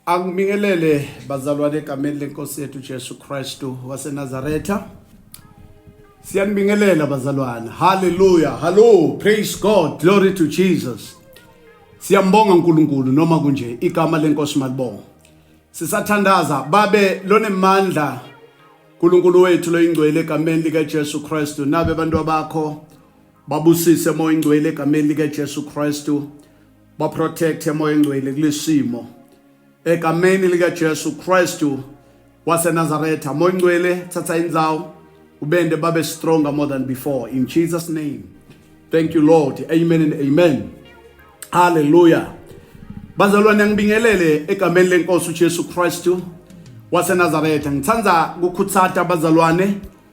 Angibingelele bazalwane egameni lenkosi yethu Jesu Kristu waseNazaretha. Siyanibingelela bazalwane. Hallelujah. Hello. Praise God. Glory to Jesus. Siyambonga uNkulunkulu noma kunje igama lenkosi malibonga. Sisathandaza babe lonemandla uNkulunkulu wethu loyingcwele egameni lika Jesu Kristu nabe abantu abakho babusise moyingcwele egameni lika Jesu Kristu. baprotect emoya engcwele kulesimo egameni lika Jesu Kristu waseNazaretha moya ngcwele thatha indzawo ubende babe stronger more than before in Jesus name thank you Lord amen and amen hallelujah bazalwane ngibingelele egameni lenkosi uJesu Kristu waseNazaretha ngithanda ukukhuthata abazalwane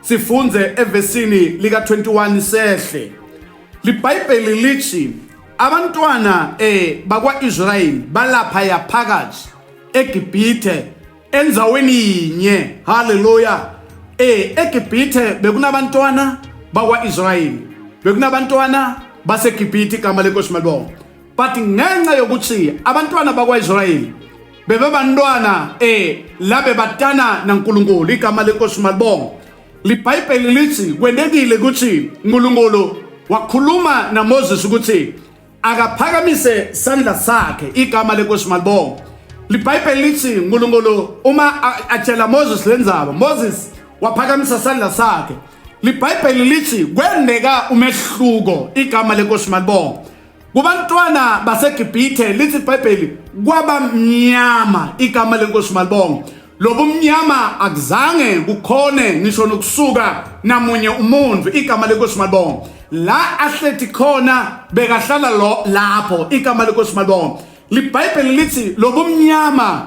Sifunde evesini lika 21 sehle. LiBhayibheli lithi abantwana eh bakwaIsrayeli balapha yaphakathi eGibhithe enzaweni yinye. Hallelujah. Eh eGibhithe bekunabantwana bakwaIsrayeli. Bekunabantwana baseGibhithe igama lenkosi malibonga. But ngenxa yokuthi abantwana bakwaIsrayeli bebebantwana eh la bebatana naNkulunkulu igama lenkosi malibonga libhayibheli lithi kwentekile ukuthi uNkulunkulu wakhuluma naMoses ukuthi akaphakamise sandla sakhe igama lenkosi malibonga libhayibheli lithi uNkulunkulu uma atshela Moses lenzaba Moses waphakamisa sandla sakhe libhayibheli lithi kwendeka umehluko igama lenkosi malibonga kubantwana baseGibhithe lithi iBhayibheli kwabamnyama igama lenkosi malibonga lobumnyama akuzange kukhone ngisho nokusuka namunye umuntu igama lenkosi malibonga la ahlethi khona bekahlala lo lapho igama lenkosi malibonga libhayibheli lithi lobumnyama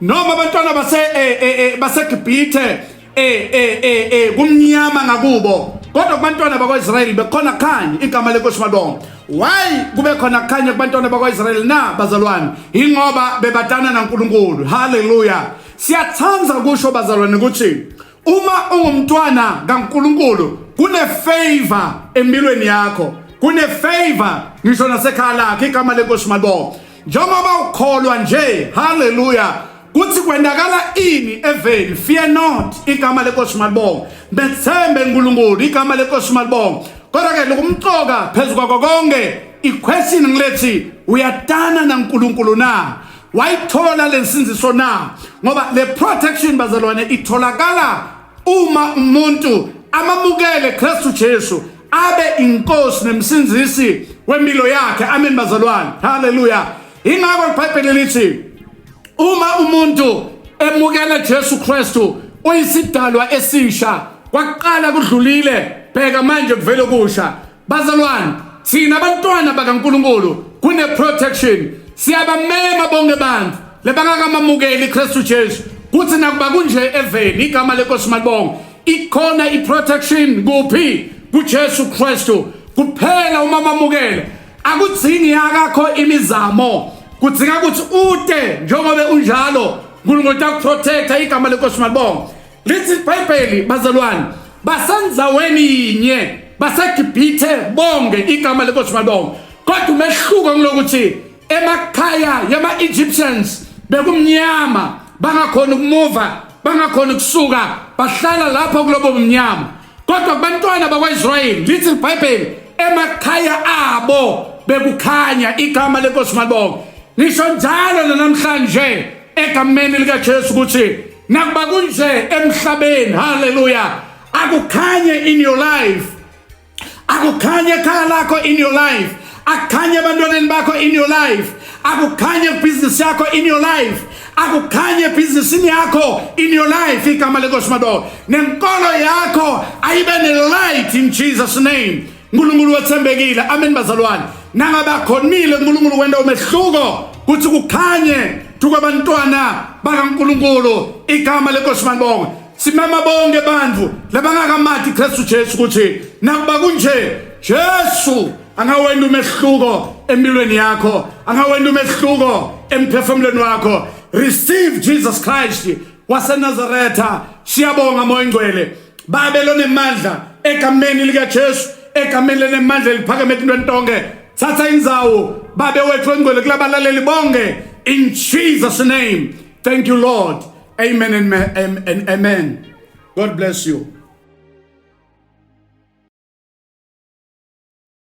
noma abantwana base eh, eh, eh, baseGibhithe eh eh eh, eh kumnyama ngakubo kodwa kubantwana bakwaIsrayeli bekhona khanye igama lenkosi malonga why kube khona khanye kubantwana bakwaIsrayeli na bazalwane ingoba bebatana naNkulunkulu haleluya siyathanda kusho bazalwane ukuthi Uma ungumntwana kaNkulunkulu kunefavor empilweni yakho, kunefavor ngisho nasekhaya lakhe igama lenkosi malibo. Njengoba ukholwa nje, haleluya. Kuthi kwendakala ini eveni, fear not igama lenkosi malibo. Bethembe uNkulunkulu igama lenkosi malibo. Kodwa ke lokumcoka phezulu kwakho konke iquestion ngilethi uyatana naNkulunkulu na? wayithola lensinziso na ngoba le protection bazalwane itholakala uma umuntu amamukele Kristu Jesu abe inkosi nemsinzisi wempilo yakhe amen bazalwane haleluya ingakho ibhayibheli lithi uma umuntu emukela Jesu Kristu uyisidalwa esisha kwaqala kudlulile bheka manje kuvele kusha Bazalwane, thina abantwana bakaNkulunkulu kune protection. Siyabamema bonke abantu lebangakamamukeli iKristu Jesu. Kuthi nakuba kunje eveni igama leNkosi malibonga. Ikhona iprotection kuphi? KuJesu Kristu. Kuphela uma mamukele. Akudzingi yakakho imizamo. Kudzinga ukuthi ute njengoba unjalo. uNkulunkulu uyakuprotecta igama leNkosi malibonga. lithi ibhayibheli bazalwane basenzaweni yinye basegibhithe bonge igama lenkosi malibonge kodwa umehluko kulokuthi emakhaya yama-egyptians bekumnyama bangakhona ukumuva bangakhona ukusuka bahlala lapho kulobo mnyama kodwa kubantwana bakwaisrayeli lithi libhayibheli emakhaya abo bekukhanya igama lenkosi malibonge ngisho njalo nanamhlanje egameni likajesu ukuthi Nakuba kunje emhlabeni, haleluya, akukhanye in your life. Akukhanye ekhaya lakho in your life. Akukhanye abantwaneni bakho in your life. Akukhanye business yakho in your life. akukhanye ebhizinisini yakho in your life igama lenkosi madoda nenkolo yakho ayibe ne-light in jesus name uNkulunkulu wethembekile amen bazalwane nangabakhonile uNkulunkulu wenda umehluko kuthi kukhanye tukabantwana bakaNkulunkulu igama lenkosi manibonge simema bonke bantu labangakamathi Kristu Jesu ukuthi nakuba kunje Jesu angawenda umehluko empilweni yakho angawenda umehluko emphefumulweni wakho receive Jesus Christ waseNazaretha siyabonga moya ingcwele babe lonemandla egameni likaJesu egameni lenemandla eliphakeme entweni tonke thatha inzawo babe wethu engcwele kulabalaleli bonke in Jesus name thank you lord amen and amen god bless you